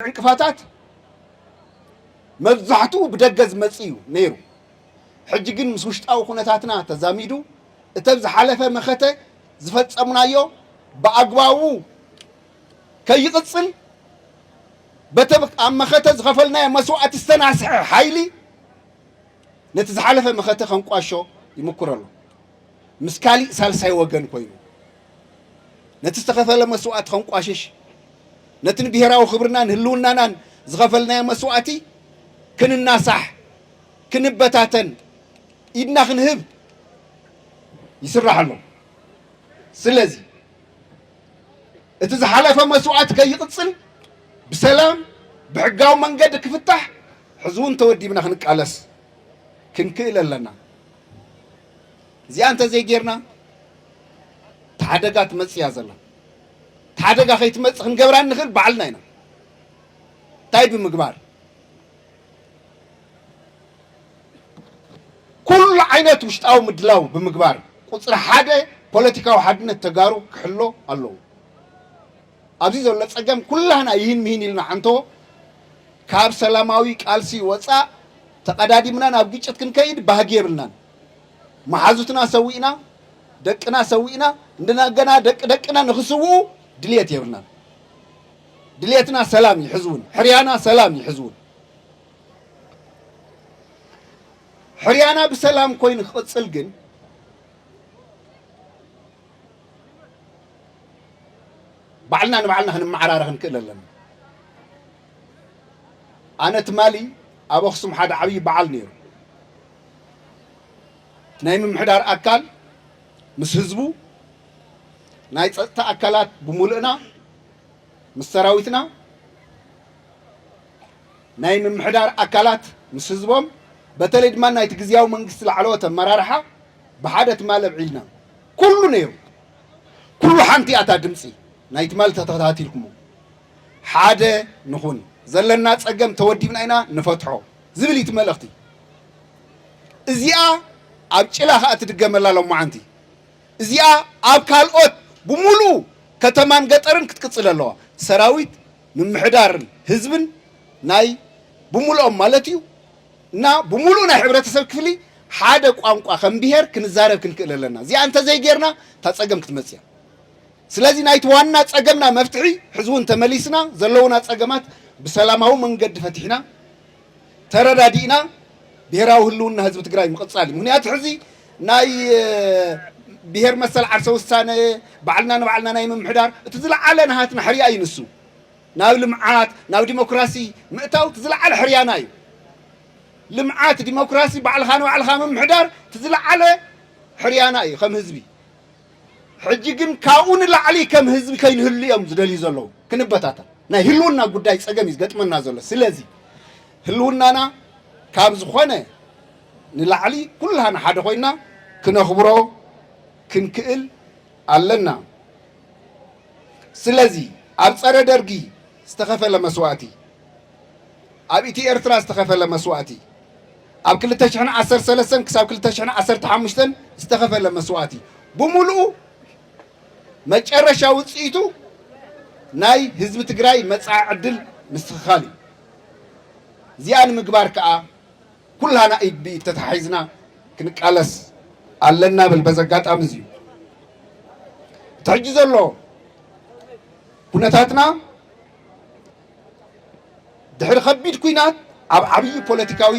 ዕንቅፋታት መብዛሕትኡ ብደገ ዝመጽእ እዩ ነይሩ። ሕጂ ግን ምስ ውሽጣዊ ኩነታትና ተዛሚዱ እተን ዝሓለፈ መኸተ ዝፈጸምናዮ ብኣግባቡ ከይቕጽል በቲ ኣብ መኸተ ዝኸፈልናዮ መስዋእቲ ዝተናስሐ ሓይሊ ነቲ ዝሓለፈ መኸተ ከንቋሾ ይምኩር ኣሎ ምስ ካሊእ ሳልሳይ ወገን ኮይኑ ነቲ ዝተኸፈለ መስዋእቲ ከንቋሽሽ፣ ነቲ ንብሄራዊ ክብርናን ህልውናናን ዝኸፈልናዮ መስዋእቲ ክንናሳሕ፣ ክንበታተን፣ ኢድና ክንህብ ይስራሕ ኣሎ። ስለዚ እቲ ዝሓለፈ መስዋእቲ ከይቕጽል ብሰላም ብሕጋዊ መንገዲ ክፍታሕ ሕዚ እውን ተወዲብና ክንቃለስ ክንክእል ኣለና። እዚኣ እንተዘይጌርና እቲ ሓደጋ ትመፅእ እያ ዘላ። እቲ ሓደጋ ከይትመፅእ ክንገብራ እንኽእል ባዕልና ኢና። እንታይ ብምግባር ኩሉ ዓይነት ውሽጣዊ ምድላው ብምግባር ቁፅሪ ሓደ ፖለቲካዊ ሓድነት ተጋሩ ክሕሎ ኣለዎ። ኣብዚ ዘሎ ፀገም ኩላህና ይህን ምሂን ኢልና ዓንቶ ካብ ሰላማዊ ቃልሲ ወፃእ ተቐዳዲምና ናብ ግጭት ክንከይድ ባህጊ የብልናን። መሓዙትና ሰዊእና፣ ደቅና ሰዊእና፣ እንደገና ደቂ ደቅና ንኽስውኡ ድልየት የብልናን። ድልየትና ሰላም እዩ ሕዚ እውን፣ ሕርያና ሰላም እዩ ሕዚ እውን። ሕርያና ብሰላም ኮይኑ ክቕፅል ግን ባዕልና ንባዕልና ክንመዓራረ ክንክእል ኣለና። ኣነ ትማሊ ኣብ ኣኽሱም ሓደ ዓብዪ በዓል ነይሩ። ናይ ምምሕዳር ኣካል ምስ ህዝቡ፣ ናይ ፀጥታ ኣካላት ብምሉእና ምስ ሰራዊትና፣ ናይ ምምሕዳር ኣካላት ምስ ህዝቦም፣ በተለይ ድማ ናይቲ ግዜያዊ መንግስቲ ላዕለዎት ኣመራርሓ ብሓደ ትማሊ ኣብዒልና ኩሉ ነይሩ። ኩሉ ሓንቲ እያ እታ ድምፂ ናይ ትማሊ ተተኸታቲልኩሞ ሓደ ንኹን ዘለና ፀገም ተወዲብና ኢና ንፈትሖ ዝብል እዩ መልእኽቲ እዚኣ ኣብ ጭላ ከዓ ትድገመላ ሎማዓንቲ እዚኣ ኣብ ካልኦት ብሙሉኡ ከተማን ገጠርን ክትቅፅል ኣለዋ ሰራዊት ምምሕዳርን ህዝብን ናይ ብሙሉኦም ማለት እዩ እና ብሙሉእ ናይ ሕብረተሰብ ክፍሊ ሓደ ቋንቋ ከም ብሄር ክንዛረብ ክንክእል ኣለና እዚኣ እንተዘይጌርና እታ ፀገም ክትመፅእ እያ ስለዚ ናይቲ ዋና ፀገምና መፍትሒ ሕዚ እውን ተመሊስና ዘለዉና ፀገማት ብሰላማዊ መንገዲ ፈቲሕና ተረዳዲእና ብሄራዊ ህልውና ህዝቢ ትግራይ ምቕፃል እዩ። ምክንያቱ ሕዚ ናይ ብሄር መሰል ዓርሰ ውሳነ ባዕልና ንባዕልና ናይ ምምሕዳር እቲ ዝለዓለ ናሃትና ሕርያ እዩ ንሱ ናብ ልምዓት ናብ ዲሞክራሲ ምእታው እቲ ዝለዓለ ሕርያና እዩ ልምዓት ዲሞክራሲ ባዕልኻ ንባዕልኻ ምምሕዳር እቲ ዝለዓለ ሕርያና እዩ ከም ህዝቢ ሕጂ ግን ካብኡ ንላዕሊ ከም ህዝቢ ከይንህሉ እዮም ዝደልዩ ዘለዉ። ክንበታተን ናይ ህልውና ጉዳይ ጸገም እዩ ዝገጥመና ዘሎ። ስለዚ ህልውናና ካብ ዝኾነ ንላዕሊ ኩላህና ሓደ ኮይና ክነኽብሮ ክንክእል ኣለና። ስለዚ ኣብ ጸረ ደርጊ ዝተኸፈለ መስዋእቲ፣ ኣብ ኢትዮ ኤርትራ ዝተኸፈለ መስዋእቲ፣ ኣብ ክልተ ሽሕን ዓሰርተ ሰለስተን ክሳብ ክልተ ሽሕን ዓሰርተ ሓሙሽተን ዝተኸፈለ መስዋእቲ ብምሉኡ መጨረሻ ውፅኢቱ ናይ ህዝቢ ትግራይ መፃኢ ዕድል ምስትኽኻል እዩ። እዚኣ ንምግባር ከዓ ኩላና ኢድ ብኢድ ተተሓሒዝና ክንቃለስ ኣለና ብል በዚ ኣጋጣሚ እዚ እዩ። እቲ ሕጂ ዘሎ ኩነታትና ድሕሪ ከቢድ ኲናት ኣብ ዓብዪ ፖለቲካዊ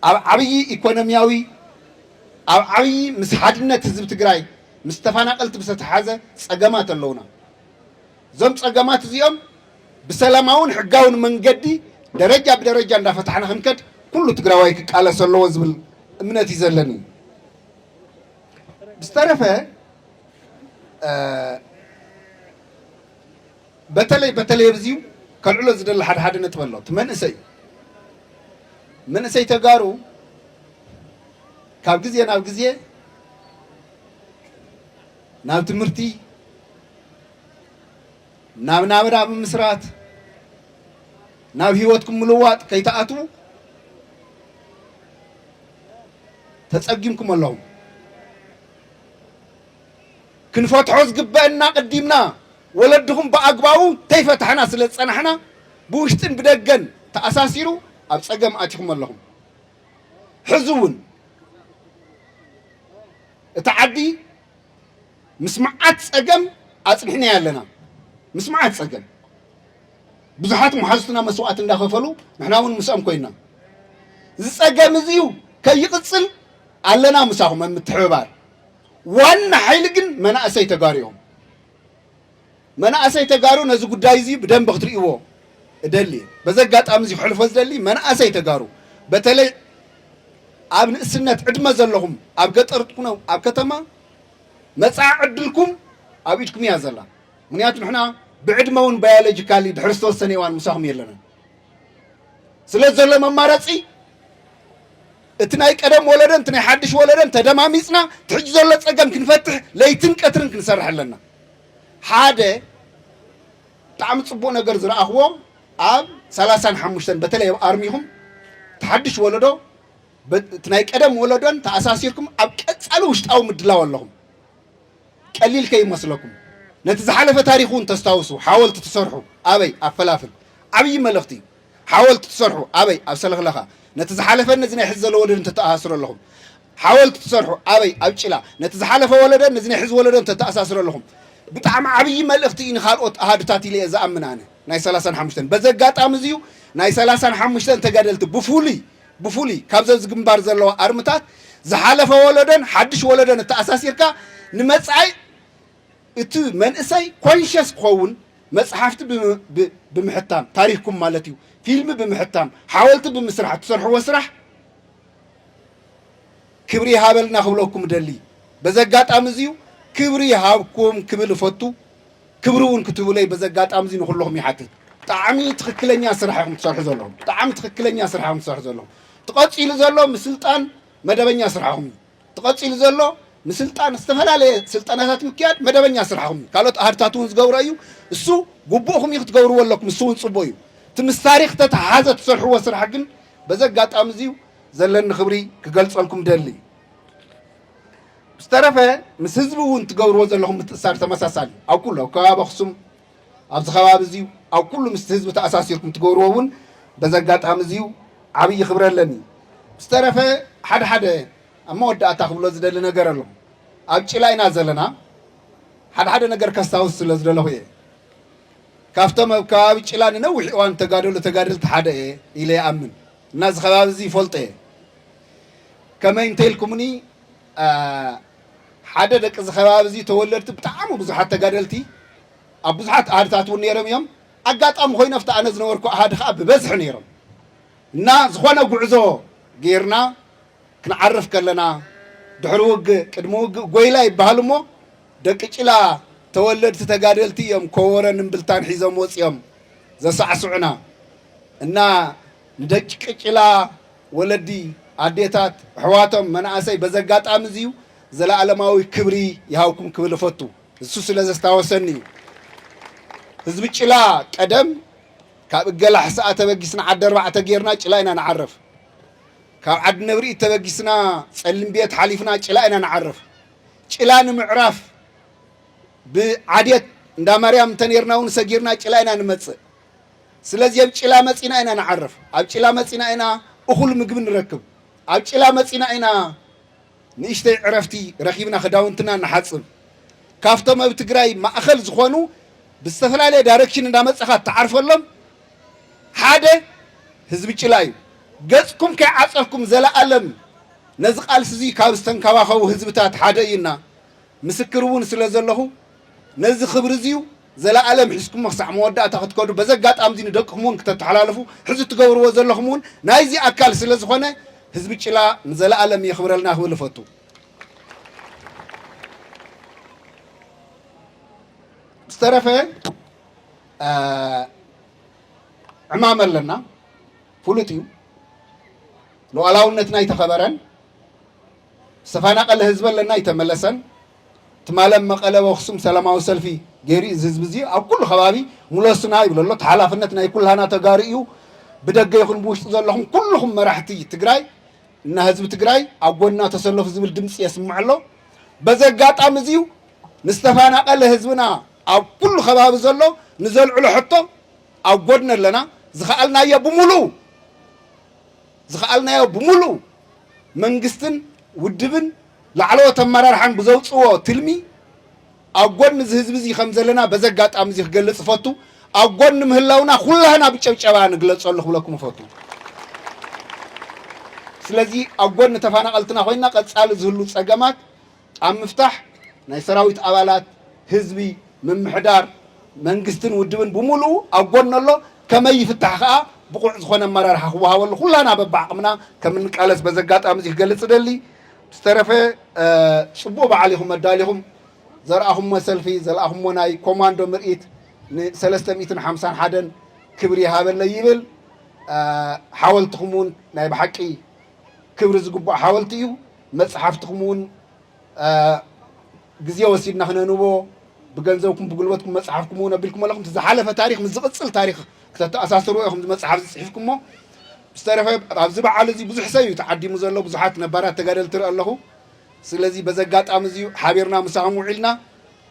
ኣብ ዓብዪ ኢኮኖሚያዊ ኣብ ዓብዪ ምስ ሓድነት ህዝቢ ትግራይ ምስ ተፈናቀልቲ ብዝተተሓዘ ፀገማት ኣለውና። እዞም ፀገማት እዚኦም ብሰላማውን ሕጋውን መንገዲ ደረጃ ብደረጃ እንዳፈታሕና ክንከድ ኩሉ ትግራዋይ ክቃለስ ኣለዎ ዝብል እምነት እዩ ዘለኒ። ብዝተረፈ በተለይ በተለይ ኣብዚዩ ከልዕሎ ዝደሊ ሓደ ሓደ ነጥቢ ኣሎ እቲ መንእሰይ መንእሰይ ተጋሩ ካብ ግዜ ናብ ግዜ ናብ ትምህርቲ ናብ ናብራ ብምስራት ናብ ሂወትኩም ምልዋጥ ከይተኣትዉ ተፀጊምኩም ኣለኹም ክንፈትሖ ዝግበእና ኣቐዲምና ወለድኹም ብኣግባቡ ተይፈታሕና ስለ ዝጸናሕና ብውሽጥን ብደገን ተኣሳሲሩ ኣብ ጸገም ኣቲኹም ኣለኹም። ሕዚ እውን እታ ዓዲ ምስ መዓት ጸገም ኣጽኒሕናያ ኣለና። ምስ መዓት ጸገም ብዙሓት መሓዙትና መስዋእቲ እንዳኸፈሉ ንሕና እውን ምስኦም ኮይና እዚ ጸገም እዚዩ ከይቕጽል ኣለና ምሳኹም ኣብ ምትሕብባር። ዋና ሓይሊ ግን መናእሰይ ተጋሩ እዮም። መናእሰይ ተጋሩ ነዚ ጉዳይ እዚ ብደንቢ ክትርእይዎ እደሊ። በዚ ኣጋጣሚ እዚ ክሕልፎ ዝደሊ መናእሰይ ተጋሩ በተለይ ኣብ ንእስነት ዕድመ ዘለኹም ኣብ ገጠር ትኩኑ ኣብ ከተማ መጻኢ ዕድልኩም ኣብ ኢድኩም እያ ዘላ። ምክንያቱ ንሕና ብዕድመ እውን ባዮሎጂካሊ ድሕሪ ዝተወሰነ እዋን ምሳኹም የለናን ስለ ዘሎ መማረፂ እቲ ናይ ቀደም ወለዶን እቲ ናይ ሓድሽ ወለዶን ተደማሚፅና እቲ ሕጂ ዘሎ ፀገም ክንፈትሕ ለይትን ቀትርን ክንሰርሕ ኣለና። ሓደ ብጣዕሚ ፅቡቅ ነገር ዝረኣኽዎ ኣብ ሰላሳን ሓሙሽተን በተለይ ኣብ ኣርሚኹም እቲ ሓድሽ ወለዶ እቲ ናይ ቀደም ወለዶን ተኣሳሲርኩም ኣብ ቀፃሊ ውሽጣዊ ምድላው ኣለኹም። ቀሊል ከይመስለኩም ነቲ ዝሓለፈ ታሪኽ እውን ተስታውሱ ሓወልቲ ትሰርሑ ኣበይ ኣብ ፈላፍል ዓብዪ መልእኽቲ እዩ። ሓወልቲ ትሰርሑ ኣበይ ኣብ ሰለኽለኻ ነቲ ዝሓለፈን ነዚ ናይ ሕዚ ዘሎ ወለዶ እንተተኣሳስሩ ኣለኹም ሓወልቲ ትሰርሑ ኣበይ ኣብ ጭላ ነቲ ዝሓለፈ ወለደን ነዚ ናይ ሕዚ ወለዶ እንተተኣሳስሩ ኣለኹም ብጣዕሚ ዓብዪ መልእኽቲ እዩ ንካልኦት ኣሃዱታት ኢለ እየ ዝኣምን ኣነ ናይ ሰላሳን ሓሙሽተን በዚ ኣጋጣሚ እዚዩ ናይ ሰላሳን ሓሙሽተን ተጋደልቲ ብፍሉይ ብፍሉይ ካብዚ ኣብዚ ግንባር ዘለዋ ኣርምታት ዝሓለፈ ወለደን ሓድሽ ወለደን እተኣሳሲርካ ንመጻኢ እቲ መንእሰይ ኮንሸስ ክኸውን መጽሓፍቲ ብምሕታም ታሪኽኩም ማለት እዩ ፊልሚ ብምሕታም ሓወልቲ ብምስራሕ እትሰርሕዎ ስራሕ ክብሪ ይሃበልና ክብለኩም እደሊ በዚ ኣጋጣሚ እዚዩ ክብሪ ይሃብኩም ክብል እፈቱ ክብሪ እውን ክትብለይ በዚ ኣጋጣሚ እዚ ንኩልኹም ይሓትት ብጣዕሚ ትኽክለኛ ስራሕ ኢኹም ትሰርሑ ዘለኹም ብጣዕሚ ትኽክለኛ ስራሕ ኢኹም ትሰርሑ ዘለኹም ትቐፂሉ ዘሎ ምስልጣን መደበኛ ስራሕኹም እዩ እቲ ቀጺሉ ዘሎ ምስልጣን ዝተፈላለየ ስልጠናታት ምክያድ መደበኛ ስራሕኹም እዩ። ካልኦት ኣሃዱታት እውን ዝገብሮ እዩ። እሱ ጉቡእኹም እዩ ክትገብርዎ ኣለኩም። እሱ እውን ጽቡቕ እዩ። እቲ ምስ ታሪኽ ዝተተሓሓዘ እትሰርሕዎ ስራሕ ግን በዚ ኣጋጣሚ እዚ ዘለኒ ክብሪ ክገልጸልኩም እደሊ። ብዝተረፈ ምስ ህዝቢ እውን እትገብርዎ ዘለኹም ምትእስሳር ተመሳሳሊ እዩ። ኣብ ኩሉ ኣብ ከባቢ ኣኽሱም ኣብዚ ከባቢ እዚ ኣብ ኩሉ ምስቲ ህዝቢ ተኣሳሲርኩም ትገብርዎ እውን በዚ ኣጋጣሚ እዚ ዓብዪ ክብሪ ኣለኒ። ብዝተረፈ ሓደ ሓደ ኣብ መወዳእታ ክብሎ ዝደሊ ነገር ኣሎ። ኣብ ጭላ ኢና ዘለና ሓደ ሓደ ነገር ከስታውስ ስለ ዝደለኹ እየ። ካብቶም ኣብ ከባቢ ጭላ ንነዊሕ እዋን ተጋደሉ ተጋደልቲ ሓደ እየ ኢለ ይኣምን እና እዚ ከባቢ እዚ ይፈልጦ እየ ከመይ እንተኢልኩምኒ ሓደ ደቂ እዚ ከባቢ እዚ ተወለድቲ ብጣዕሚ ብዙሓት ተጋደልቲ ኣብ ብዙሓት ኣሃድታት እውን ነይሮም እዮም። ኣጋጣሚ ኮይኑ ኣብቲ ኣነ ዝነበርኩ ኣሃድ ከዓ ብበዝሒ ነይሮም እና ዝኾነ ጉዕዞ ገይርና ክንዓርፍ ከለና ድሕሪ ውግእ ቅድሚ ውግእ ጎይላ ይበሃል እሞ ደቂ ጭላ ተወለድቲ ተጋደልቲ እዮም ኮቦረን እምብልታን ሒዞም ወፂኦም ዘሳዕስዑና እና ንደቂ ጭላ ወለዲ፣ ኣዴታት፣ ኣሕዋቶም፣ መናእሰይ በዚ ኣጋጣሚ እዚዩ ዘለኣለማዊ ክብሪ ይሃብኩም ክብል እፈቱ። ንሱ ስለ ዘስታወሰኒ እዩ። ህዝቢ ጭላ ቀደም ካብ እገላ ሕስኣ ተበጊስና ዓዲ ኣርባዕተ ጌርና ጭላ ኢና ንዓርፍ። ካብ ዓዲ ነብሪኢት ተበጊስና ጸሊም ቤት ሓሊፍና ጭላ ኢና ንዓርፍ። ጭላ ንምዕራፍ ብዓዴት እንዳ ማርያም እንተኔርና እውን ሰጊርና ጭላ ኢና ንመጽእ። ስለዚ ኣብ ጭላ መጺና ኢና ንዓርፍ፣ ኣብ ጭላ መጺና ኢና እኹል ምግቢ ንረክብ፣ ኣብ ጭላ መጺና ኢና ንእሽተይ ዕረፍቲ ረኺብና ክዳውንትና ንሓጽብ። ካብቶም ኣብ ትግራይ ማእኸል ዝኾኑ ብዝተፈላለየ ዳይረክሽን እንዳመጻኻ እትዓርፈሎም ሓደ ህዝቢ ጭላ እዩ። ገጽኩም ከይዓጸፍኩም ዘለኣለም ነዚ ቃልሲ እዚ ካብ ዝተንከባኸቡ ህዝብታት ሓደ እዩና ምስክር እውን ስለዘለኹ ነዚ ክብሪ እዚዩ ዘለኣለም ሒዝኩሞ ክሳዕ መወዳእታ ክትከዱ በዚ ኣጋጣሚ'ዚ ንደቅኹም እውን ክተተሓላልፉ ሕዚ እትገብርዎ ዘለኹም እውን ናይዚ ኣካል ስለ ዝኾነ ህዝቢ ጭላ ንዘለኣለም የኽብረልና ክብል እፈቱ። ዝተረፈ ዕማም ኣለና ፍሉጥ እዩ። ሉዓላውነትና ኣይተኸበረን፣ ዝተፈናቐለ ህዝቢ ኣለና ኣይተመለሰን፣ ትማል ኣብ መቐለ ኣብ ኣኽሱም ሰላማዊ ሰልፊ ገይሩ እዩ እዚ ህዝቢ እዚ ኣብ ኩሉ ከባቢ ሙለሱና ይብሎ ኣሎ እቲ ሓላፍነት ናይ ኩላህና ተጋሩ እዩ ብደገ ይኹን ብውሽጢ ዘለኹም ኩልኹም መራሕቲ ትግራይ እና ህዝቢ ትግራይ ኣብ ጎንና ተሰለፉ ዝብል ድምፂ የስምዕ ኣሎ በዚ ኣጋጣሚ እዚ እዩ ንዝተፈናቐለ ህዝብና ኣብ ኩሉ ከባቢ ዘሎ ንዘልዕሎ ሕቶ ኣብ ጎድኒ ኣለና ዝኸኣልናዮ ብምሉኡ ዝኸኣልናዮ ብምሉኡ መንግስትን ውድብን ላዕለዎት ኣመራርሓን ብዘውፅዎ ትልሚ ኣብ ጎኒ እዚ ህዝቢ እዚ ከም ዘለና በዚ ኣጋጣሚ እዚ ክገልፅ እፈቱ። ኣብ ጎኒ ምህላውና ኩላህና ብጨብጨባ ንግለፀሉ ክብለኩም እፈቱ። ስለዚ ኣብ ጎኒ ተፈናቐልትና ኮይንና ቀፃሊ ዝህሉ ፀገማት ኣብ ምፍታሕ ናይ ሰራዊት ኣባላት፣ ህዝቢ፣ ምምሕዳር፣ መንግስትን ውድብን ብሙሉኡ ኣብ ጎኑ ኣሎ፣ ከመይ ይፍታሕ ከኣ ብቑዕ ዝኾነ ኣመራርሓ ክወሃበሉ ኩላና በብዓቕምና ከምንቃለስ በዚ ኣጋጣሚ እዚ ክገልጽ እደሊ። ብዝተረፈ ጽቡቕ በዓል ኢኹም ኣዳሊኹም ዘርኣኹሞ ሰልፊ ዘልኣኹሞ ናይ ኮማንዶ ምርኢት ን ሰለስተ ሚእትን ሓምሳን ሓደን ክብሪ ይሃበለይ ይብል። ሓወልትኹም እውን ናይ ብሓቂ ክብሪ ዝግብኦ ሓወልቲ እዩ። መጽሓፍትኹም እውን ግዜ ወሲድና ክነንብቦ ብገንዘብኩም ብጉልበትኩም መጽሓፍኩም እውን ኣቢልኩም ኣለኹም እቲ ዝሓለፈ ታሪክ ምስ ዝቕፅል ታሪክ ክተተኣሳስርዎ ኢኹም መጽሓፍ ዝፅሒፍኩሞ ዝተረፈ ኣብዚ በዓል እዚ ብዙሕ ሰብ እዩ ተዓዲሙ ዘሎ ብዙሓት ነባራት ተጋደል ትርኢ ኣለኹ ስለዚ በዚ ኣጋጣሚ እዚዩ ሓቢርና ምሳኹም ውዒልና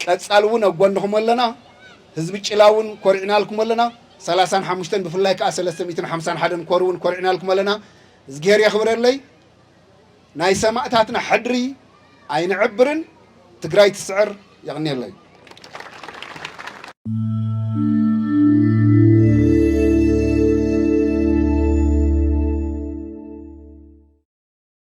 ቀጻሊ እውን ኣብ ጎንኹም ኣለና ህዝቢ ጭላ እውን ኮሪዕናልኩም ኣለና ሰላሳን ሓሙሽተን ብፍላይ ከዓ ሰለስተ ሚእትን ሓምሳን ሓደን ኮር እውን ኮሪዕናልኩም ኣለና እዝግሄር የኽብረለይ ናይ ሰማእታትና ሕድሪ ኣይንዕብርን ትግራይ ትስዕር የቕኔለይ።